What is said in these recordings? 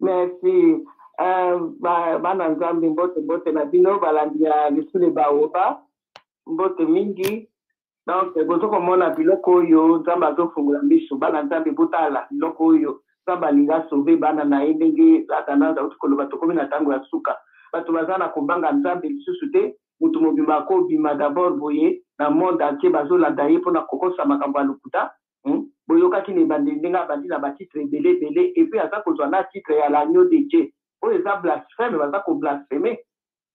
Merci. Euh, ba, bana nzambe mbote mbote na bino balandi ya lisule baoba mbote mingi donc bozo komona biloko oyo nzambe azofungola miso bana nzambe botala biloko oyo nzambe alingi asove bana na ye ndenge atanase auti koloba tokomi na ntango ya suka bato baza na kobanga nzambe lisusu te moto mobimba akobima dabord boye na monde entier bazolanda ye mpona kokosa makambo ya lokuta hmm? boyokaki na ebandeli ndenge abandi na batitre ebele ebele epuis aza kozwa na titre ya l'agneau de dieu oyo eza blasphème baza koblaspheme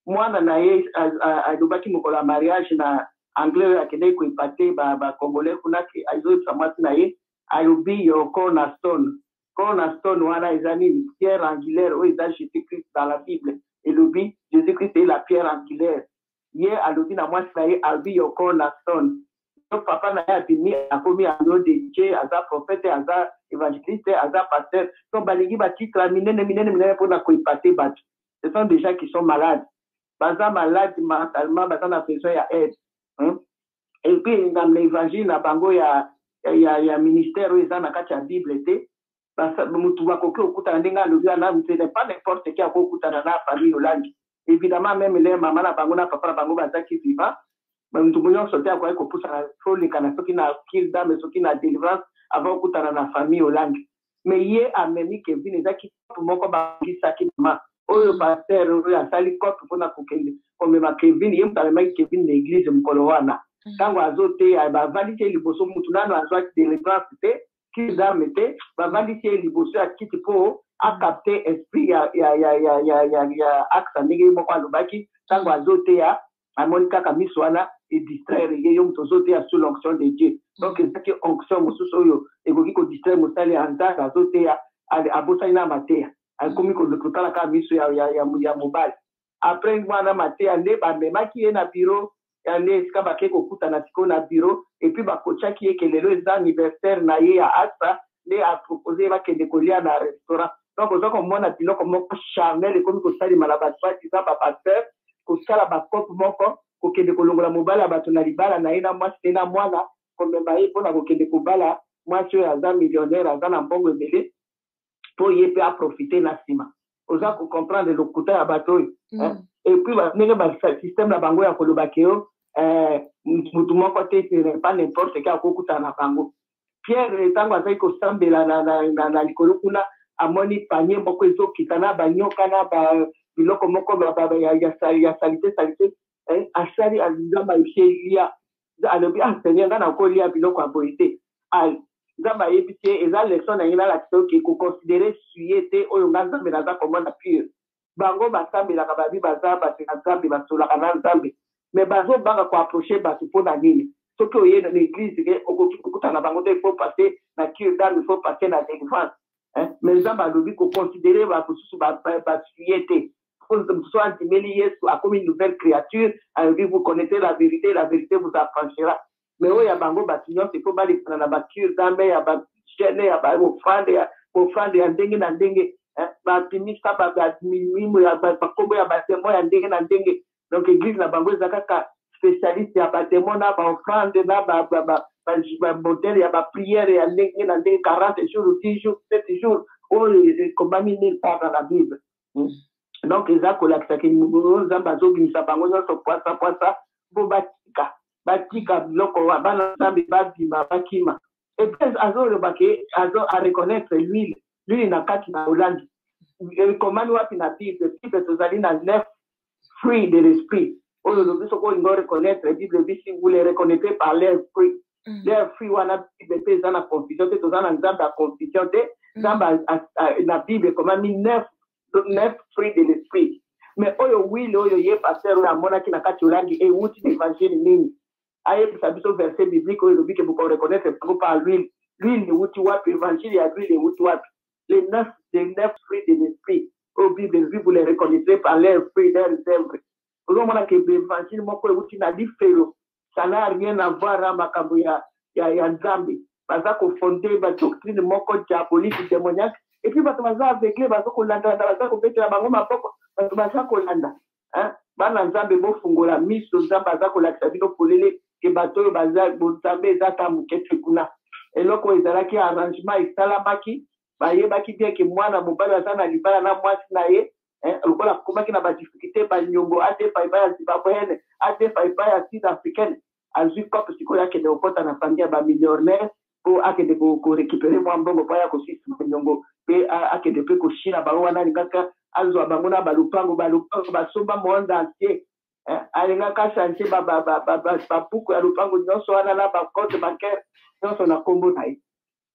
mwana na ye alobaki mokolo ya mariage na anglais oyo akendaki koepate bacongolais ba kuna ke azoyebisa mwasi na ye alobi yo corna stone corna stone wana eza nini pierre angulaire oyo eza jésus christ dans la bible elobi jésus christ est la pierre angulaire ye alobi na mwasi na ye abi your call la son yo papa na ye abimi akomi ando de je aza prophète aza évangéliste aza pasteur donc balingi batitre ya minene minene minene mpona koepate bato ce sont des gens qui sont malades baza malade mentalement baza na besoin ya aide hein? epuis na évangile na bango ya, ya, ya ministère oyo eza na kati ya bible te mutu bakoki kokutana ndenge alobi wana vous n'êtes pas n'importe qui akoki kokutana na famille olangi évidemment meme leur mama na bango na papa na bango bazaki vivant mutu nyonso te akoki kopusana tolekana soki na kir dame soki na delivrance avant okutana na famille olangi mais ye amemi kevin eza kikopo moko bakisaki mama oyo mm. paster oyo asali cope mpona kokende komema kevin ye moto amemaki kevin na eglise mokolo wana mm. ntango azoteya bavalisi ye liboso motu nano azwaki delivrance te cure d'arme te bavandisi ye liboso ya kiti mpo acapte esprit ya, ya, ya, ya, ya, ya, ya axa ndenge ye moko alobaki ntango azoteya amoni kaka miso wana edistraire ye yo moto ozoteya sous l'onction de dieu donc ezaki onction mosusu oyo ekoki kodistraire mosali ya nzambe azoteya abosani na mateya akomi kotala kaka miso ya, ya, ya, ya mobali après wana mateya nde ba memaki ye na bureau ya nde esika bake kokutana sikoyo na bureau et puis ba coachaki ye ke lelo eza anniversaire na ye ya asa nde a propose ye bakende kolia na restaurant donc oza komona biloko moko charnel ekomi kosalema na ba soit disant ba pasteur kosala ba cope moko kokende kolongola mobali ya bato na libala na ye na mwasi te na mwana komema ye mpo na kokende kobala mwasi oyo aza millionnaire aza na mbongo ebele po ye pe a profiter na sima oza ko comprendre lokuta ya bato oyo mm. et puis ndenge ba système na bango ya koloba ke yo eh, mutu moko te pas n'importe ke akokutana na bango pierre ntango azali kosambela na, na, na, na likolo kuna amoni panie moko ezokita na banyoka na ba biloko moko ya salite salite eh, asali nzambe ayebi ye lia alobi ah seigneur nga nakolia biloko ya boye te ah, nzambe ayebisi ye eza leson na ye nalakisa yo ke koconsidere suye te oyo nga nzambe naza komona pure bango basambelaka babi baza bato ya nzambe basolaka na nzambe me bazobanga koaproche bato mpo na nini soki oye na eglise ke okoki kokutana bango te ifo passe na cure dame ifo passe na délivrance eh, me nzambe alobi koconsidere bamosusu basuye te mosusu andimeli yesu akomi nouvelle créature alobi vous connaissez la vérité la vérité vous affranchira me oyo ya bango bato nyonso ifo balekana na bacure dame ya bagene ya baofrande ya ofrande ya ndenge na ndenge eh, bapimisa bamilimo ya bakombo ya bademo ya ndenge na ndenge donc eglise na bango eza kaka spécialiste ya bademo na baofrande na modele ya bapriere ya ndenge na ndenge 40 jours 10 jours 7 jours oyo ekomami nil part na bible hmm. donc eza kolakisa ke nzambe azobimisa bango nyonso pwasa pwasa mpo batika batika biloko wa bana nzambe babima bakima epres azoloba ke azo areconnaitre l'huile l'huile na kati na olandi ekomami wapi na bible bible tozali na 9 fruit de l'esprit oyo olobi soki olingi oreconnaitre bible ebi si vous les reconnaîtrez par leur fruit mm. leur fruit wana bible mpe eza na confusion te toza na nzambe ya confusion te mm. nzambe na bible ekomami neuf neuf fruit de l'esprit mais oyo wile oyo ye paster oyo amonaki na kati olangi ewuti na évangile nini ayebisa biso verset biblique oyo elobi ke bokoreconnaitre bango par l'huile l'huile ewuti wapi évangile ya l'huile ewuti wapi les neuf les neuf fruits de l'esprit oyo bible elobi vous les reconnaîtrez par leurs fruits leurs œuvres ozomona ke évangile moko ewuti na lifelo ça n'a rien à voir na makambo ya, ya, ya nzambe baza kofonde badoctrine moko diabolique demoniaque epuis bato baza aveugle baza kolandalanda baza kobetela bango maboko bato baza kolanda hein? bana nzambe bofungola miso nzambe aza kolakisa bino polele ke bato oyo baza bonzambe eza ata moke te kuna eloko oyo ezalaki arrangement esalamaki bayebaki bien ke mwana mobali aza na libala na mwasi na ye eh, lokola akomaki na badifficulté banyongo adefa epai ya zimbabweene adefa epai ya sud africaine azwi cope sikoyo akende kokɔta na famille ya bamillionnaire mpo akende korekipere mwa mbongo mpo aya kosisa manyongo mpe akende mpe koshina bango wana alingaka azwa bango na balupango balupango basomba monde entier eh, alingaka change babuku ya lupango nyonso wana na bacote bancaire nyonso na nkombo na ye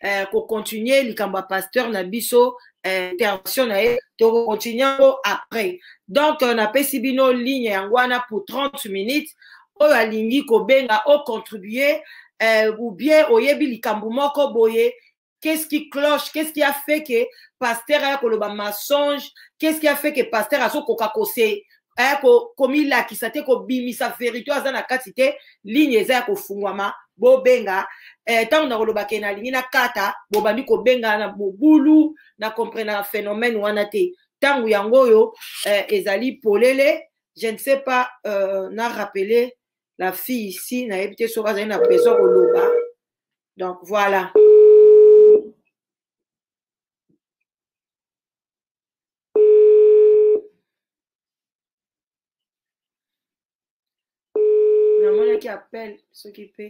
eh, kocontinue likambo ya pasteur na biso eh, intervention na ye tokocontinue yango après donc euh, napesi bino ligne yango wana pour 30 minutes oyo alingi kobenga ocontribue eh, ou bien oyebi likambo moko boye qu'est-ce qui cloche qu'est-ce qui a fait que pasteur aya koloba mensonge qu'est-ce qui a fait que pasteur azokoka kose aya ko komilakisa te kobimisa verité aza na kati te ligne eza ya kofungwama bobenga eh, ntango eh, nakoloba ke nalingi nakata bobandi kobenga na mobulu na comprenaka phénomène wana te ntango yango oyo eh, ezali polele je ne sais pas euh, na rappeler la fille ici nayebi te soki azali na besoin koloba donc voilà namonaki appel soki mpe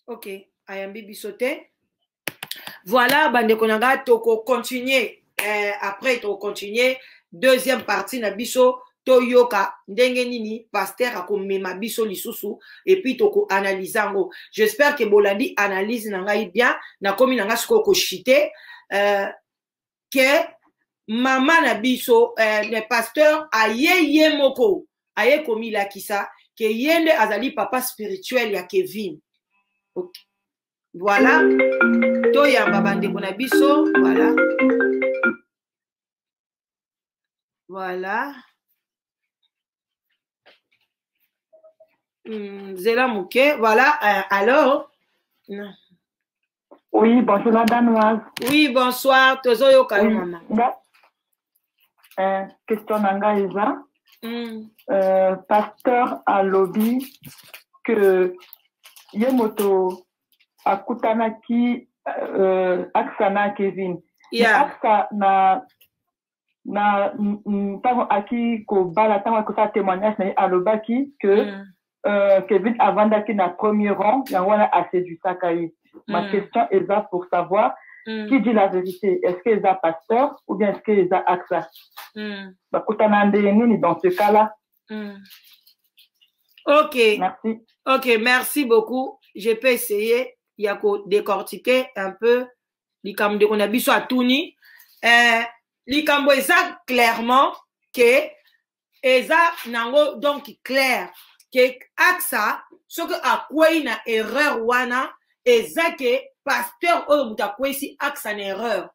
ok ayambi biso te voilà bandeko na ngai tokocontinue eh, après tokocontinue deuxième partie na biso toyoka ndenge nini paster akomema biso lisusu epuis tokoanalyse yango j'espère ke bolandi analyse na ngai bien nakomi na ngai sikoyo koshite euh, ke mama na biso eh, le pasteur aye ye moko aye komilakisa ke ye nde azali papa spirituel ya kevin okay. voilà toyamba bandeko na biso voilà voilà Hmm, zela moke voilà euh, alors non. Oui, bonjour la danoise. Oui, bonsoir. Tozo yo kayo maman. Nga, euh, question nanga eza. Mm. Euh, pasteur a lobby que ye moto akutanaki euh, aksa na Kevin. Yeah. Aksa na na ntango aki kobala ntango akosala témoignage na ye alobaki que mm. euh, kevin avandaki na premier rang yango wana aseduisaka ye mm. ma question eza pour savoir mm. qui dit la vérité est ce que eza pasteur ou bien est ce que eza axa mm. bakutana ndenge nini dans ce cas là mm. ok merci ok merci beaucoup je peux essayer ya ko décortiquer un peu likambo ndeko na biso atuni eh, likambo eza clairement ke eza nango donc claire ke axa soki akwei na erreur wana eza ke pasteur oyo moto akwesi axa na erreur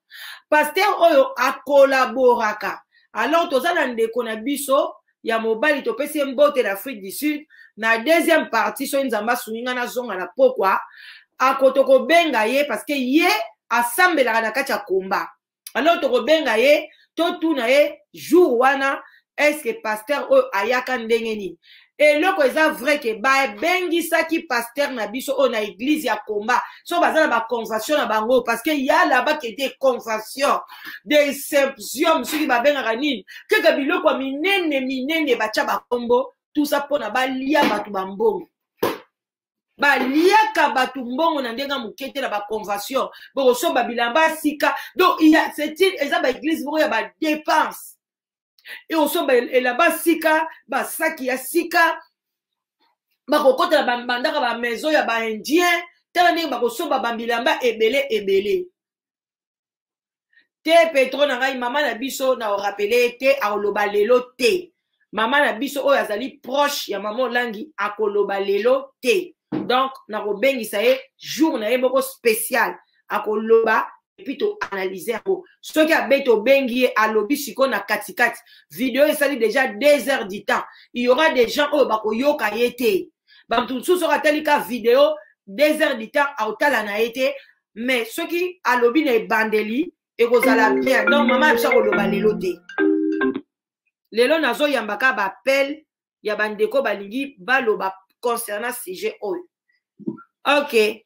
pasteur oyo akolaboraka alors toza na ndeko na biso ya mobali topesi ye mbote na afrique du sud na deuxième partie soki nzambe asungi ngai nazonga na pokwa ako tokobenga ye parce que ye asambelaka na kati ya komba alors tokobenga ye totuna ye jour wana eske paster oyo ayaka ndenge nini eloko eza vrai ke babengisaki paster na biso oyo na eglize ya komba so baza na baconvention na bango parce que ya laba ke de convention de symposium soki babengaka nini kaka biloko ya minene minene batya bakombo tusa mpona balia bato bambongo baliaka bato mbongo na ndenge ya moke te na baconvention bokosomba bilamba ya sika donc eza baeglise moko ya badepense e osomba elamba sika basaki ya sika bakokotela bandaka bamaison ya baindien tala ndenge bakosomba bambilamba ebele ebele te petro na ngai mama na biso na orapele te akoloba lelo te mama na biso oyo azali proche ya mama olangi akoloba lelo te donc nakobengisa ye jour na ye moko spécial akoloba epuis to analyse yango soki abeti obengi ye alobi siko na katikati video esali deja deux heures du temps il y aura des gens oyo bakoyoka ye te bato mosusu soki atali ka video deux heures du temps aotala na ye te mais soki alobi na ebandeli ekozala bien donc mama ya biso akoloba lelo te lelo nazoyambaka baappel ya bandeko balingi baloba concernant sujet oyo ok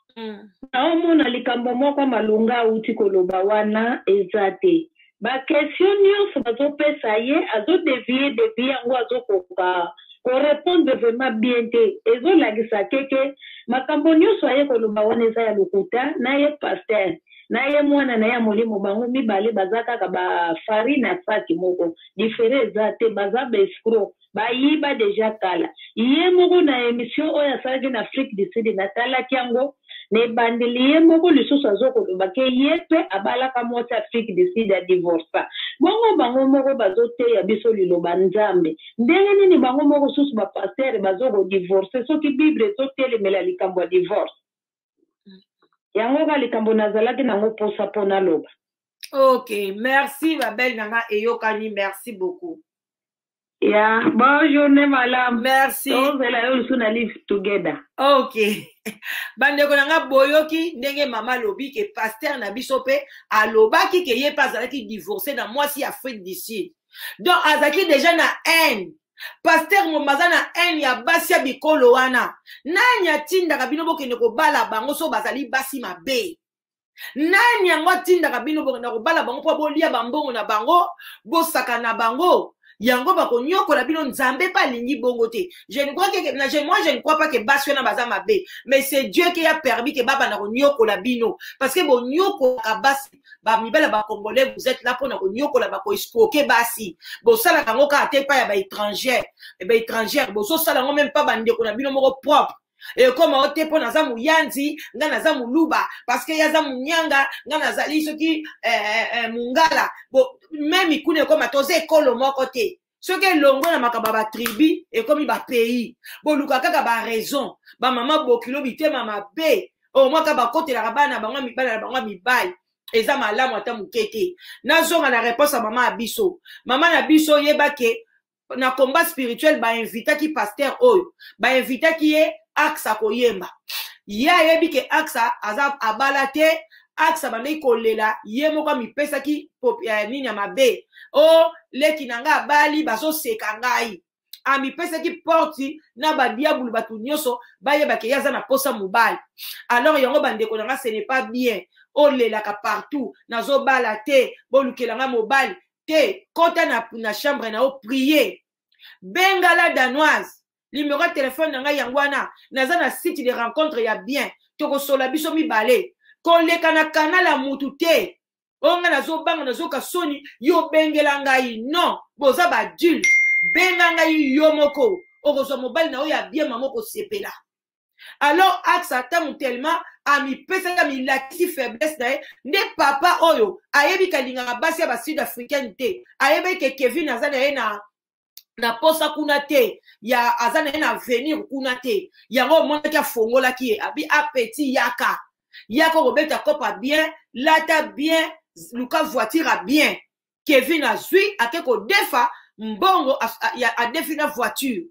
mm. naomona likambo moko malonga auti koloba wana eza te bakestion nyonso bazopesa ye azodevie devie yango azokoka korepondre vraiment bien te ezolakisa keke makambo nyonso aye koloba wana eza ya lokuta na ye paster na ye mwana na ye ya molimo bango mibale baza kaka bafari na saki moko difere eza te baza baescro bayiba deja kala ye moko na emission oyo asalaki na afrique du sud natalaki yango na ebandeli ye moko lisusu azokoloba ke ye mpe abalaka mwasi afrique du sud ya divorsa bongo bango moko bazoteya biso liloba nzambe ndenge nini bango moko susu bapastere bazokodivorse soki bible ezotelemela likambo ya divorce yango ka likambo nazalaki nango mposa mpo naloba ok merci babele na nga eyokani merci beaucoup ya bon journée malamu merci tozela yo lisusu na live together ok bandeko na ngai boyoki ndenge mama alobi ke paster na biso mpe alobaki ke ye mpe azalaki divorce na mwasi ya afrique du sud donc azalaki deja na haine paster momo aza na haine ya basi ya bikolo wana nani atindaka bino bokende kobala bango so bazali basi mabe nani yango atindaka bino bokenda kobala bango mpo bolia bambongo na bango bosaka na bango yango bakonyokola bino nzambe mpe alingi bongo te je ne crois que na je moi je ne crois pas que basi wana baza mabe mais c'est dieu qui a permis que babanda konyokola bino parce que bonyokolaka basi bamibala bacongolais vous êtes là mpo na konyokola bakoescroke basi bosalaka yango kaka te epai ya baétrangère baétrangère bozosala yango meme mpa bandeko na bino moko propre ekoma o te mpo naza moyanzi nga naza moluba parceke ye aza monyanga nga nazali soki eh, eh, eh, mongala meme kuna ekoma toza ekolo moko te soki elongwe na makambo ya batribu ekomi bapays boluka kaka baraison bamama bokilo bitema mabe omwaka bakotelaka bana bango bana na bango ya mibali eza malamu ata moke te nazonga na reponse ya mama ya biso mama na biso yeba ke na combat spirituel bainvitaki paster oyo bainvitaki ye axa koyemba ye ayebi ke axa aza abala te axe abandaki kolela ye moko amipesaki ya nini ya mabe o oh, leki na ngai abali bazoseka ngai amipesaki porti na badiabulu bato nyonso bayebake ye aza na mposa mobali alors yango bandeko na ngai ce n'est pas bien olelaka partout nazobala te bolukela ngai mobali te kota na, na chambre na yo prie benga la danoise limero ya telefone na ngai yango wana naza na site de rencontre ya bien tokosola biso mibale koleka na kanal ya mutu te oyo ngai nazobanga nazoka soni yo obengela ngai non boza badule benga ngai yo moko okozwa mobali na oyo ya bien mama okosepela alors axe ntango tellement amipesaki amilakisi faiblesse na ye nde papa oyo ayebi kalingaka basi ya basud africaine te ayebaki ke kevin aza na ye na na posa kuna te ya aza na ye na avenir kuna te yango omonaki afongolaki ye abi apeti yaka yaka okobeta kopa bien lata bien luka voiture ya bien kevin azwi ake kodefa mbongo adefi na voiture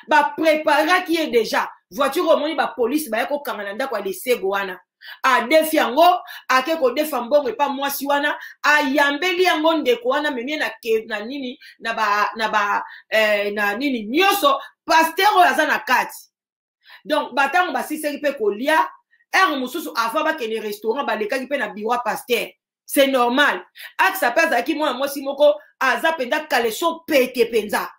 bapreparaki ye deja voiture omoni bapolisi baya kokanga na ndako ya lesego wana adefi yango ake kodefa mbongo epa mwasi wana ayambeli yango ndeko wana memie na, ke, na nini na ba, na, ba, eh, na nini nyonso paster oyo aza na kati donc batango basisaki mpe kolia heure mosusu avant bakende restaurant balekaki mpe na biwa paster c'est normal akisa mpe azalaki mwana mwasi moko aza mpenza kaleso pete mpenza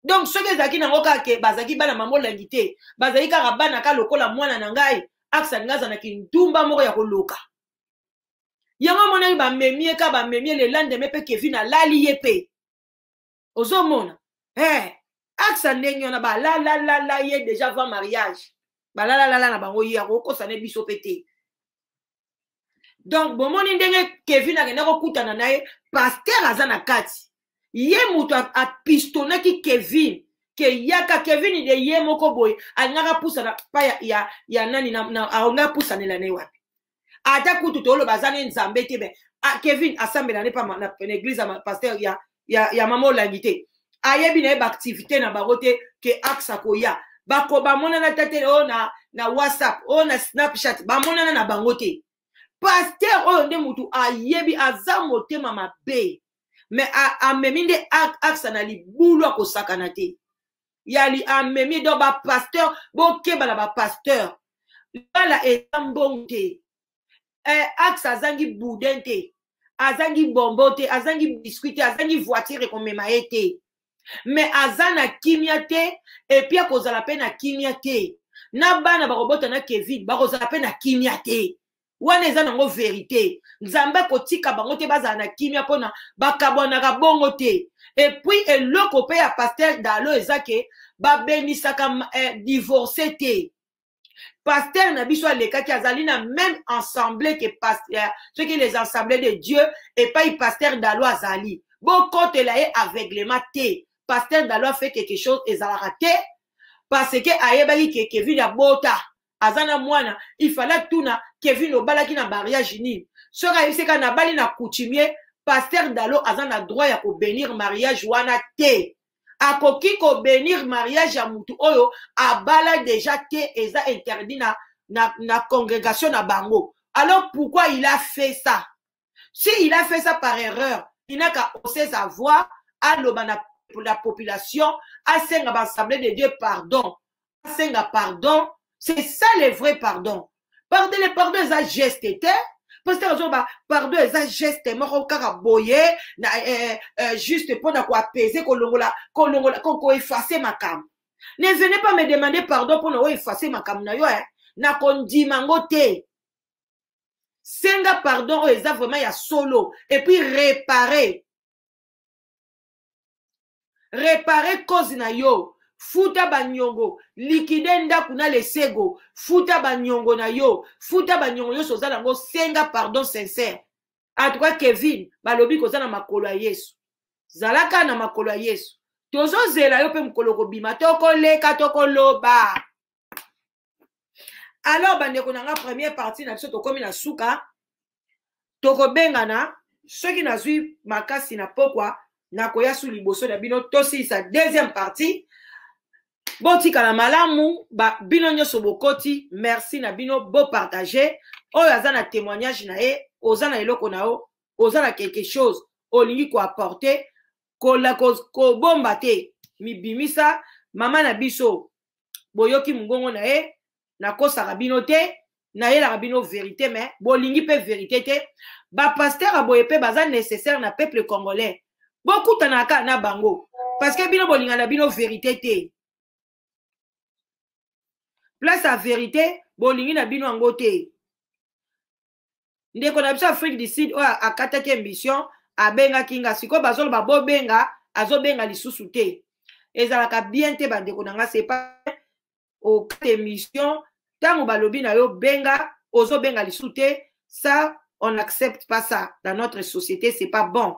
donc soki ezalaki nango kaka ke bazalaki bana mamolangi te bazalaki kaka bana ka lokola mwana na ngai aksa ngai aza na kindumba moko ya koloka yango amonaki bamemi ye ka bamemi ye lelandeme mpe kevin alali ye mpe ozomona hey, eh, aksa ndenge wana balalalala ye deja avant mariage balalalala na bango ye akokosa ne biso mpe te donc bomoni ndenge kevin akenda kokutana na ye paster aza na kati ye moto apistonaki kevin ke yaka kevin de ye moko boye alingaka pusana pa ya, ya, ya nani alingaka pusanela na ye wapi ata kutu toloba aza ne nzambe te me ah, kevin asambela ne pa na, na eglise ya paster ya, ya, ya mama olangi te ayebi na ye baactivité na bango te ke axe akoya bako bamonana ta te oyo na, na whatsapp oyo na snapchat bamonana na bango te paster oyo nde motu ayebi aza motema mabe me amemi nde axe na libulu akosakana te yali amemi donc bapaster bokeba na bapaster lala eza mbongo te eh, axe azangi boudin te azangi bombo te azangi biscuit te azangi voiture ekomema ye te me aza na kimia te epi akozala mpe na kimia te na bana bakobota na kevin bakozala mpe na kimia te wana eza nango verite nzambe akotika bango te bazala na kimia mpona bakabwanaka bongo te epuis eloko mpe ya paster dalo eza ke babenisaka eh, divorce te pasteur na biso alekaki azali na même ensemble ke pasteur soki les ensemble de dieu epai pasteur dalo azali bokotela ye aveuglement te pasteur dalo afe quelque chose ezalaka te parce que ayebaki ke kevin abota aza na mwana ifala tuna kevin obalaki na mariage nini soki ayebisi kaka nabali na coutumier pasteur dalo aza na droit ya kobenir mariage wana te akoki ko benir mariage ya mutu oyo abala deja te eza interdit na, na, na congregation na bango alors pourquoi il a fait ça si il a fait ça par erreur inaka ose sa voix aloba na la population asenga baassemblée de dieu pardon asenga pardon c'est ça le vrai pardon pardon le pardon eza geste te pasteur azoloba pardon eza geste moko kaka boye na eh, eh, juste mpo na koapese kolongola kolongola koefase makambo ne venez pas me demander pardon mpo na oefase makambo na yo eh. na kondima yango te senga pardon oyo eza vraiment ya solo epuis repare repare cause na yo futa banyongo likide ndako na lesego futa banyongo na yo futa banyongo nyonso oza nango senga pardon sincere atuka kevin balobi koza na makolo ya yesu zalaka na makolo ya yesu tozozela yo mpe mokolo kobima tokoleka tokoloba alors bandeko na nga première partie na biso tokomi na suka tokobengana soki nazwi makasi na pokwa nakoya su liboso na bino tosilisa deuxième partie botikala malamu ba, bino nyonso bokoti merci na bino bopartage oyo aza na témoignage na ye oza na eloko na yo oza na quelque chose olingi koapporte kola kobomba ko te mibimisa mama na biso boyoki mongongo na ye nakosaka bino te nayelaka bino verite me bolingi mpe verite te bapaster ya boye mpe baza nécessaire na peuple congolais bokutanaka kaka na bango parce que bino bolinga na bino verite te place ya verite bolingi na bino yango te ndeko na biso afrique du sud oyo akataki émission abengaki nga sikoyo bazoloba bobenga azobenga lisusu te ezalaka bien te bandeko na nga sepa okata émission ntango balobi na yo benga ozobenga lisusu te ça on n'accepte pas ça dans notre société c'est pas bon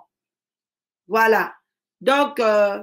voilà donc euh,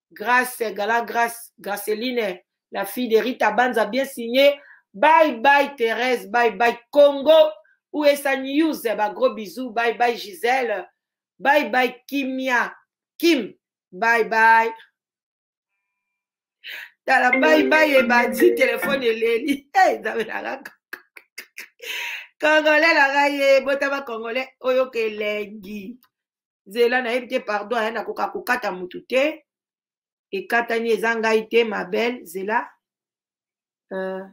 grace gala grace graceline la fille de rita banza bien signe bye bye therese bye bye congo usa news ba gros bisous bye bye gisele bye bye kimia kim bye bye tala bye bye ebandi telefone eleli hey, congolais na ngai ye botama congolais oyoka elengi zela nayebi te pardon aya nakoka kokata motu te ekatani eza ngai te ma belle zela euh,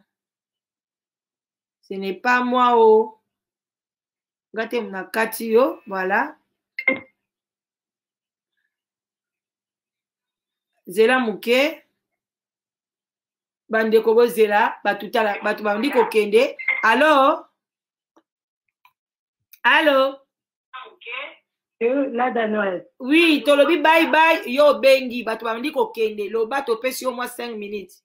ce n'est pas moi o oh. nga te nakati yo voilà zela moke bandeko bozela bato bandi kokende alors Allô euh, Lada Noël. Oui, tolobi bye bye, yo bengi, bato bandi kokende, loba topesi yo mwa 5 minutes.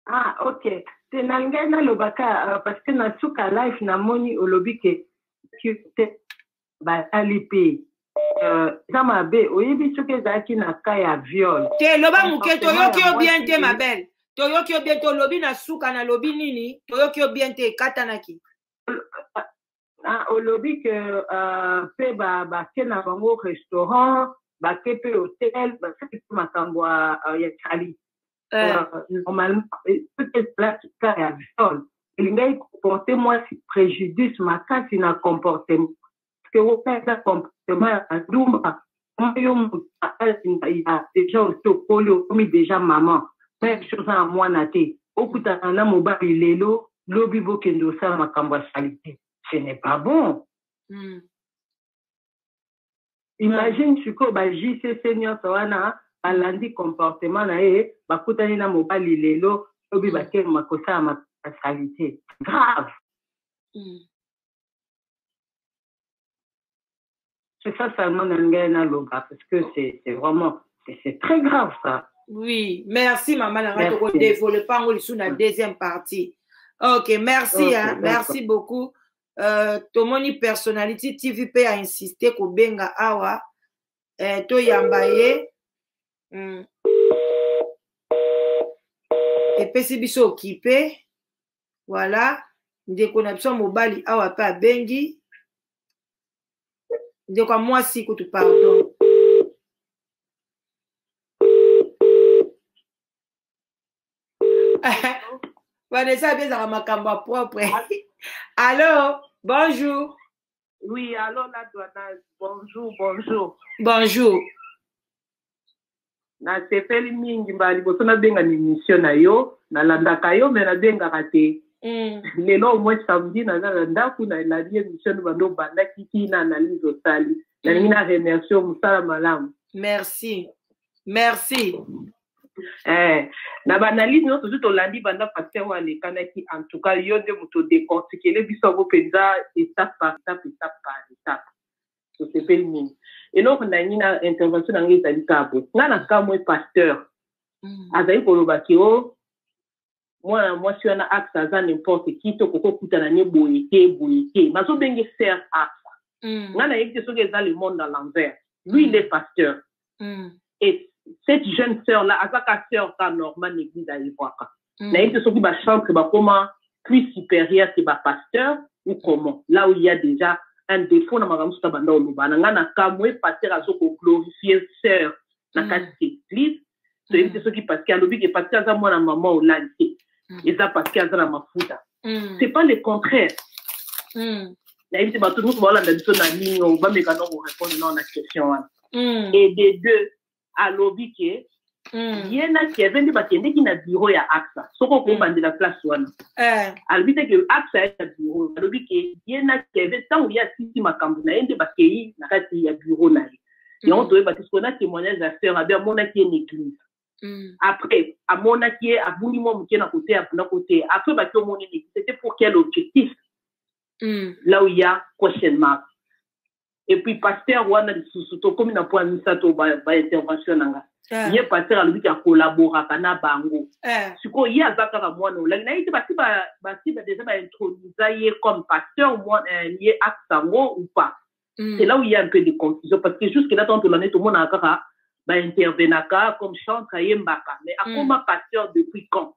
Ah, ok. Te na ngai nalobaka, euh, parce que na suka live namoni olobi ke basali mpe euh, eza mabe oyebi soki ezalaki na ka ya viol te loba moke toyoki yo bien te ma belle toyoki yo bien te olobi na suka nalobi nini toyoki yo bien te ekatanaki ah, olobi ke euh, mpe bake na bango restaurant bake mpe hotel basali mpe makambo ya cali euh, euh, normalement soki ezalaki cas ya viol elingaki comporte mwasi préjudice makasi na comportement parce que wana eza comportement ya bandumba yo moto ya déjà osi okoli okomi déjà maman même chose na mwana te okutana na mobali lelo lobi bokende osala makambo ya salite ce n'est pas bon mm. imagine sikoyo ba jcc nyonso wana balandi comportement na ye bakutani na mobali lelo lobi mm. bakema kosala masalite grave mm. c'est ça seulement na ngai naloba parce que c'est vraiment c'est très grave ça oui merci mama na ngai tokodevelope yango lisusu na deuxième partie ok merci merci, hein, merci beaucoup uh, tomoni personnality tv mpe a insiste kobenga awa uh, toyamba ye mm. epesi biso okipe voilà ndeko na biso ya mobali awa mpe abengi ndeko ya mwasi kutu pardon vanessa abe ezaka makambo ya propre allo bonjour oui allo la douanage bonjour bonjour bonjour nasepeli mingi mbala liboso nabenga na émission na yo nalandaka yo me nabengaka te mm. lelo omoi samedi naza na ndako nalandi émission no bando obandaki ti na analyse osali nalingi mm. na remercie mosala malamu merci merci eh, na baanalyse nyonso tozu tolandi banda pasteur oyo alekanaki en tout cas yo nde moto odecortikele biso yango mpenza etape par etape etape par etape tosepeli mingi eloko na yangi na intervention na yango ezali kabo ngai na kamwe pasteur mm. azali koloba ke o oh, mwana mwasi wana axa aza n'importe qui to koko kutana ne boye te boye te bazobenge ser axa mm. ngai nayebi te soki eza le monde à l'envers lui il est pasteur mm. et cette jeune sœur là aza ka sœur ka normal n'eglise ayebwaka mm. nayebi te soki bachantre bakoma plus supérieur ke bapasteur ou comment là où il y a déjà un défaut na makambo mosusu abanda oloba na ngai na kamwe pasteur azokoglorifie sœur na mm. kati ya eglise toyebi te mm. soki parce que alobi ke parce que aza mwana mama olali te mm. eza parce que aza na mafuta c'est pas le contraire nayebi te bato mosusu baolanda biso na nini o bameka no korépondre nao na question wana et de deux alobi ke ye na keve nde bakendeki na biro ya axa soki okobandela place wana eh. alobi te ke axa ya na biro alobi ke ye na keve ntango ye asisi makambo na ye nde bakei na kati ya biro na ye yango toyeba te sikoyo na témoignage ya sœur abe amonaki ye na église Mm. Après, à mon avis, à bouli moi mouké na côté, à bouli côté. Après, bah, tout mon ennemi, c'était pour quel objectif? Mm. Là où il y a question mark. Et puis, pasteur, ou ana sous-sous-to, comme il n'a pas mis ça, to, bah, bah, intervention, nanga. Yeah. Ye pasteur alobi ka collabora kana bango. Yeah. Siko ye aza kaka mwana olangi na ye te basi ba basi ba deja ba introduisa ye comme pasteur mwana eh, ye acte yango ou pas. Mm. C'est là où il y a un peu de confusion parce que jusque là tant que l'année tout le monde a kaka ba intervenaka comme chante ayembaka mais mm. akoma pasteur depuis quand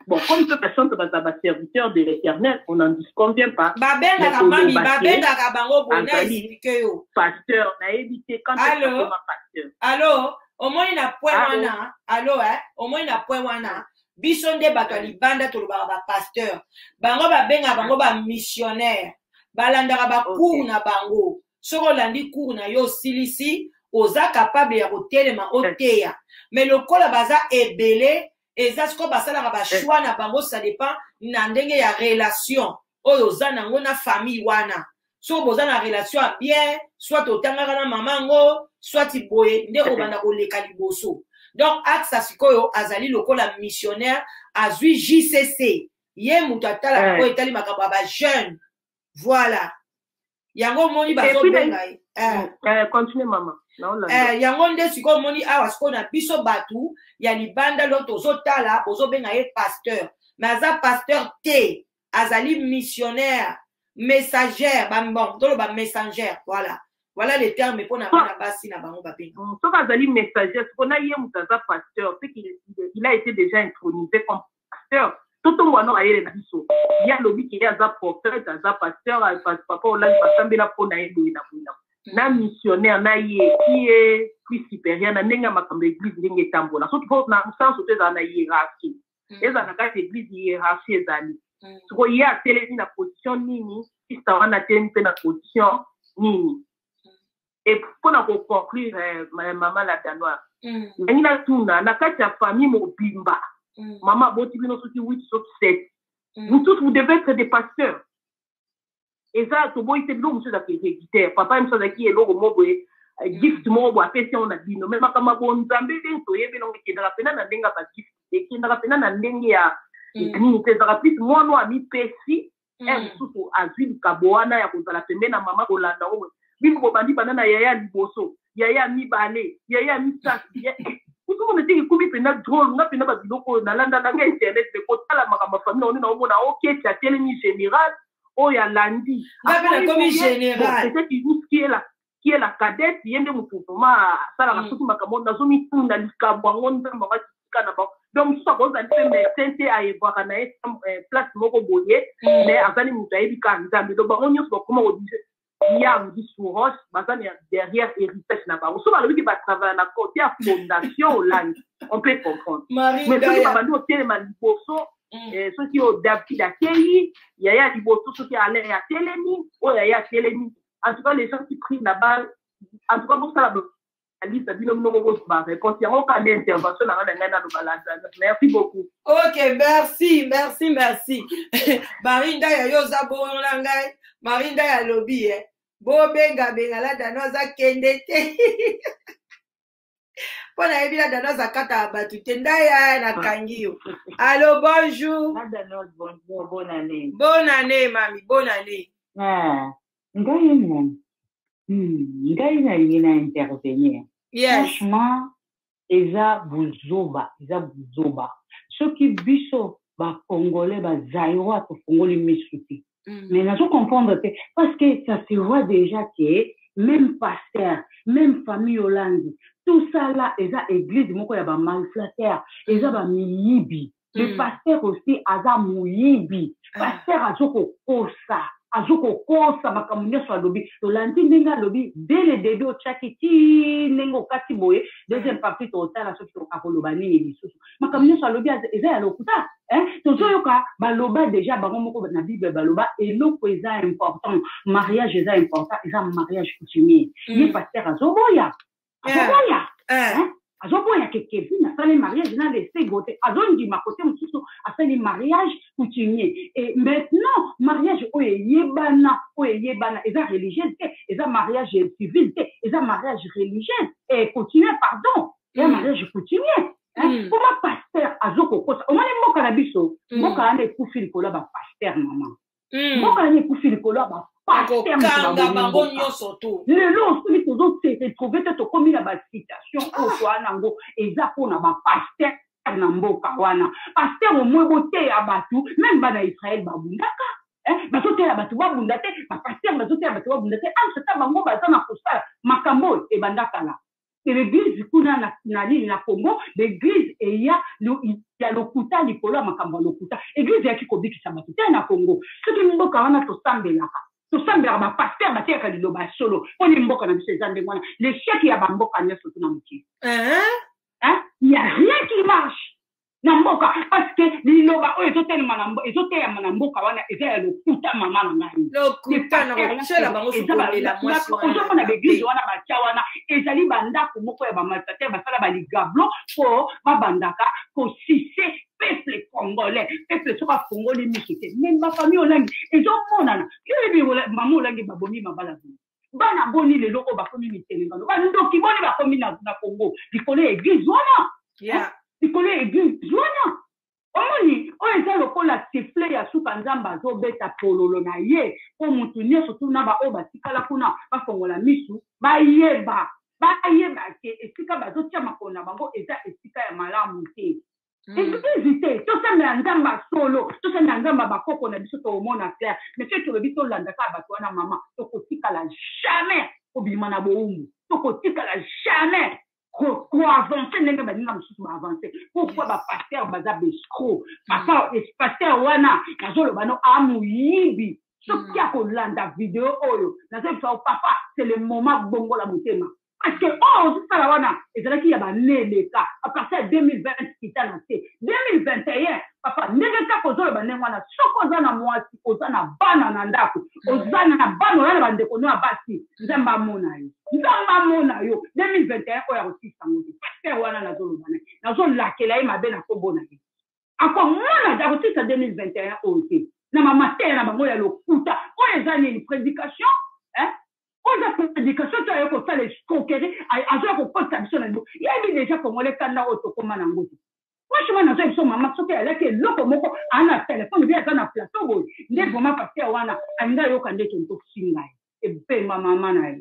Bon, comme toute personne que va avoir serviteur de l'éternel, on n'en disconvient pas. Babengaka mami, babengaka bango bonheur, expliquez yo. Pasteur, na évité quand tu es pasteur. Allô? omoni na pwe wana alo eh? omoni na pwe wana biso nde bato ya libanda tolobaka bapasteur bango babenga bango bamissionnaire balandaka bacour okay. na bango soki olandi cour na yo osilisi oza capable ya kotelema oteya me lokola baza ebele eza sikoyo basalaka bashoi na bango ça dépend na ndenge ya relation oyo oza nango na famille wana soki boza na relation ya bien soit otangaka na mama yango soit boye nde obanda koleka liboso donc axa sikoyo azali lokola missionnaire azwi jcc ye moto atalaka eh. oyo etali makambo ya bajeune voilà yango omoni bazobenga ye eh. eh, yango nde sikoyo omoni awa sikoyo na biso bato ya libanda lo tozotala bozobenga ye pasteur me aza pasteur te azali missionnaire messager bambon toloba messanger voilà voilà le terme mpo na bana basi na bango babenga mm, soki azali messager siko na ye moto aza pasteur ce il a été déjà intronisé comme pasteur totombola no mayele na biso ye alobi ke ye aza prophète aza pasteur papa olaki basambela mpo na ye boye na boye na na missionnaire na ye ye plus supérieur na ndenge ya makambo ya église ndenge etambola soki po na mosanso to ezala na hiérarchie mm. ezala na kati ya église hiérarchie ezali mm. soko ye atelemi na position nini sista wana atelemi mpe na position nini et mpo na koconclure eh, ma- mama la danoise Mm. ndenge natuna na kati ya famille mobimba Mm. mama aboti bino soki 8 soki 7 Mm. vous tous vous devez être des pasteurs eza toboyi te biloko mosusu ezalaka héréditaire papa ye mosusu azalaki eloko moko boye eh, gift moko boye apesi yango na bino me makambo ya bonzambe ndenge toyebi nango ekendaka mpena na ndenge ya bagift ekendaka mpena na ndenge ya Mm. nini te ezalaka plus mwana oyo amipesi mm. ere mosusu azwi likabo wana ya kozala pembe na mama kolanda oyo bino bobandi banda na yaya ya liboso yaya ya mibale yaya ya misato ozomona te ekomi mpenza drole nga mpenza babiloko oyo nalandaka nga internet me kotala makambo ya famille oni naomona oketi oh, atelemi général oyo alandi nga mpe nakomi général qui est la cadette ye nde moto vraiment asalaka soki makambo nazomituna likambo yango nzambe yango akitika na bango donc mosusu akozali mpe médecin te ayebwaka na ye place moko boye mais azali moto ayebi kaka nzambe donc bango nyonso bakoma kodise yang disuros baza na derrière héritage na bango soki balobi ke batravaya na cote ya fondation olangi on peut comprendre mais soki babandi otelema liboso soki oyo david akeyi yaya liboso soki alain atelemi oyo yaya atelemi en tout cas les gens qui priment la balle en tout cas bosala liste na bino moko bosba réponse yango kanda intervention na nga na ngai naloba lazana merci beaucoup ok merci merci merci marinda ya yo oza bongo na ngai marinda ya lobi e bobengabenga ladana aza kende te mpo nayebi na danos akataka bato te ndaya nakangi yo allo bonjour bonne année mami bonne année ah, ngai na hmm, ngai nalingi na intervenir franchement eza buzoba eza buzoba soki biso bacongolais bazairois tofungoli misu te Mm. Mais nazo comprendre te parce que ça se voit déjà que même pasteur, même famille Hollande, tout ça là eza église moko ya ba malflatteurs, eza ba miyibi. Le mm. pasteur aussi aza moyibi. Ah. Pasteur azo kokosa. azo kokosa makambo nyonso alobi tolandi ndenge alobi dès le début otyaki ti ndenge okati boye deuxième partie totala soki akoloba nini lisusu makambo nyonso alobi eza ya lokuta eh? tozoyoka baloba deja bango moko na bible baloba eloko eza important mariage eza important eza mariage coutumier mm. ye paster azoboya azoboya eh. eh? azoboya ke kevin asali mariage na lesego te azondima kote mosusu asali mariage coutumier e maintenant mariage oyo eyebana oyo eyebana eza religieuse te eza mariage civile te eza mariage religieuse e coutumier pardon ya mariage coutumier hmm. koma paster azokokosa omoni mboka na biso hmm. mboka wana ekufi likolo ya bapaster mama hmm. mboka wana ekufi likolo ya bakokanga bango nyonso to lelo soki tozose retrouve te tokomi na bacitation oyo ah. toa nango eza mpona bapaster na mboka wana paster omoi boteya bato meme bana israele babundaka Eh, bazotela bato babunda te bapaster bazotela bato babunda te entre ta bango baza na kosala makambo oyo ebanda kala que l'église kuna na, na nini na congo l'église eya lo, ya lokuta likolo ya makambo ya lokuta église eyaki kobikisa bato te na congo soki mboka wana tosambelaka tosambelaka bapaster bateyaka liloba ya solo mpo ne mboka na biso eza ndenge wana lechec ya bamboka nyonso tuna mokili ya rien qui marche na mboka parceke liloba oyo ezoteyama na mboka wana eza ya lokuta mama na ngaiozomona baeglise wana batya wana ezali bandako moko ya bamalfater basala baligablo po babandaka kosise peuple congolais peuple soki afongoli miso te meme bafamille olangi ezomonana yo yebi mama olangi babomi mabala boye bana boni lelo oyo bakomi mitelengano bandoki boni bakomi na, na congo likolo ya eglise wana yeah. likolo ya eglise wana omoni oyo eza lokola sifle ya suka nzambe azobeta pololo na ye mpo motu nyonso tuna baoyo batikala kuna bafongola misu bayeba bayeba te esika bazotia makolo na bango eza esika ya malamu te Mm. eglize te tosambela nzambe ya solo tosambela nzambe ya bakoko na biso tokomona claire mais soki tolobi tolanda kaka bato wana mama tokotikala jamais kobima na bowumbu tokotikala jamais koavance ndenge baninga mosusu baavance pourkoi bapaster baza bescro papa paster wana nazoloba no amoyibi soki akolanda video oyo nazoyebisa papa c'est le moment bongola motema parce que oyo ozosala wana ezalaki ya bane eleka apartir ya 2020 kita na se 2021 papa ndenge kaka ozoloba ndenge wana soki oza na mwasi oza na bana na ndako oza na bana oza na bandeko no ya basi nzambe amona yo nzambe amona yo 2021 oyo akosilisa yango te paster wana nazoloba naye nazolakela ye mabe na nkombo na ye akomona te akosilisa 2021 oyo te na bamateya na bango ya lokuta oyo eza nini prédication eh? oyo eza prédication to aye kosala escroquerie azoya kokotisa biso na yango yebi déjà congolais kanda oyo tokoma na yango te franchement naza biso mama soki alaki eloko moko aa na telefone obi aza na plateau boye nde vraimen paster wana alingi ayoka nde tontokusi ngai ebema mama na ye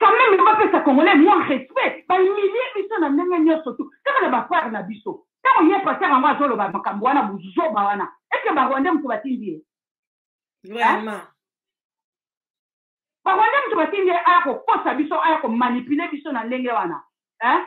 quand même bapesa congolais moi respect bahumilie biso na ndenge nyonso tu kaka na bafrere na biso ntango ye paster yango azoloba makambo wana buzoba wana eke barwandais moto batindi ye vraiment barwandais moto batindi ye aya kokosa biso aya komanipule biso na ndenge wana hein?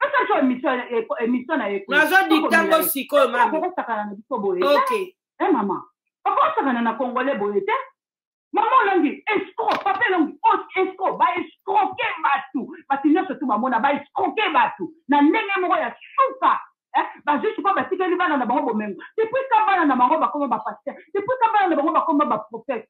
asalaki emission emission na ye nazo diktango sikoyo mami okosakana na biso boye ok eh mama okosakana na congolais boye te mama olongi escro papa elongi escro baescroke bato bato nyonso tu bamona baescroke bato na ndenge moko ya suka eh, bazwi sikoyo batikeli bana na bango bomengo depuis ka bana na bango bakoma bapaster depuis ka bana na bango bakoma baprofete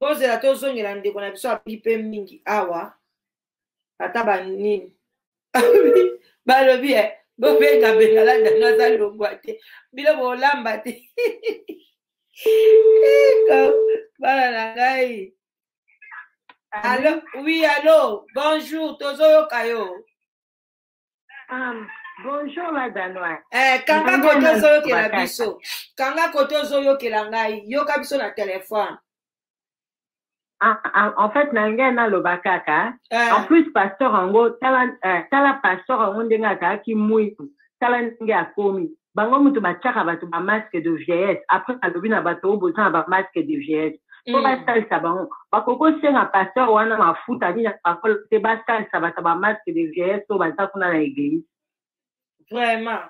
tozela tozongela ndeko na biso abeli mpe mingi awa ata banini balobi e eh, bobenga bengala dano aza longwa te bino bolamba te bana na ngai alo oui alo bonjour tozoyoka yo Um, bonjour la danoise eh, kanga kote ozoyokela biso kanga kote ozoyokela ngai yoka biso na telefone ah, ah, en fait na ngai naloba kaka eh. en plus pasteur yango tala, eh, tala pasteur yango ndenge akaki mwitu tala ndenge akomi bango mutu batiaka bato ba masque de vieillesse après alobi na bato oyo boza na ba masque de vieillesse po basalisa bango bakoki kosenga pasteur wana mafuta nini apakola te basalisa bato ba masque de vieillesse oyo baza kuna na eglise vraiment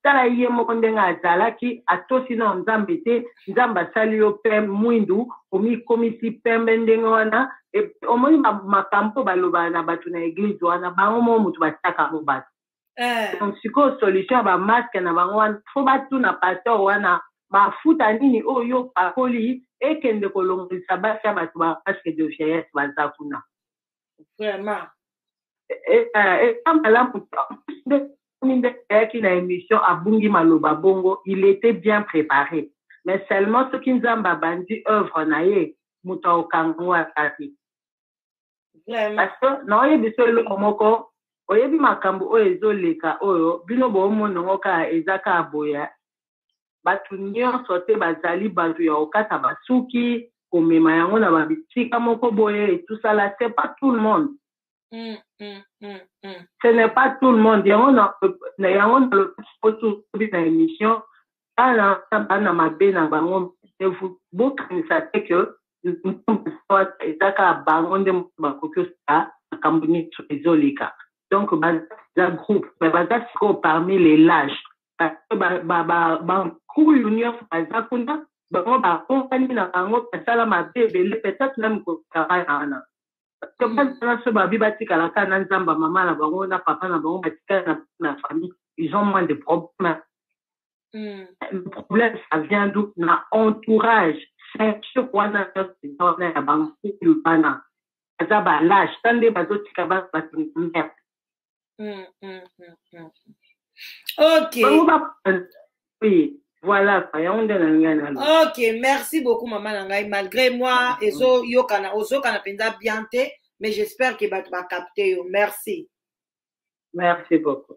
tala ye moko ndenge azalaki atosi na nzambe te nzambe asali yo pe mwindu omikomisi pembe ndenge wana omoni makambo oyo balobaka na bato na eglize wana bango moko moto batiaka yango bato eh. donc sikoyo solution ya bamaske na bango wana fo batuna pasteur wana mafuta nini oyo yo pakoli ekende kolongolisa basi ya bato bamaske de vieillesse baza kuna vraiment eza eh, eh, malamu nde ayaki na émission abungi maloba bongo il était bien préparé mais seulement soki nzambe abandi œuvre na ye moto akokango atati parce que naoyebisa eloko moko oyebi makambo oyo ezoleka oyo bino boomona yango kaka eza kaka boya bato nyonso te bazali bato ya kokata basuki komema yango na babisika moko boye etusala se pas tout le monde mm, mm, mm, mm. ce n'est pas tout le monde yango na yango nalobi na émission bana wana bana mabe na bango bokanisa te ke eza kaka bango nde moto bakoki osala makambo nyonso ezoleka donc baza groupe me baza sikoyo parmi les lage bankulu nyonso baza kuna bango bakongani na bango basala mabe ebele peut-être meme kokaa wana banaso babi batikala kaka na nzamba mama na bango na papa na bango batikala na na famille ils ont moins de problème mm. le problème ça vient d'où na entourage ceinture wana wana ya bango bana baza balache ta nde bazotika bana bato merde Mm, mm, mm, mm. Ok. Bango ba oui, voilà quoi, yango nde nalingi naloba. Ok, merci beaucoup maman na ngai malgré moi ezo yokana ozokana mpenza bien te mais j'espère que bato bacapte yo merci. Merci beaucoup.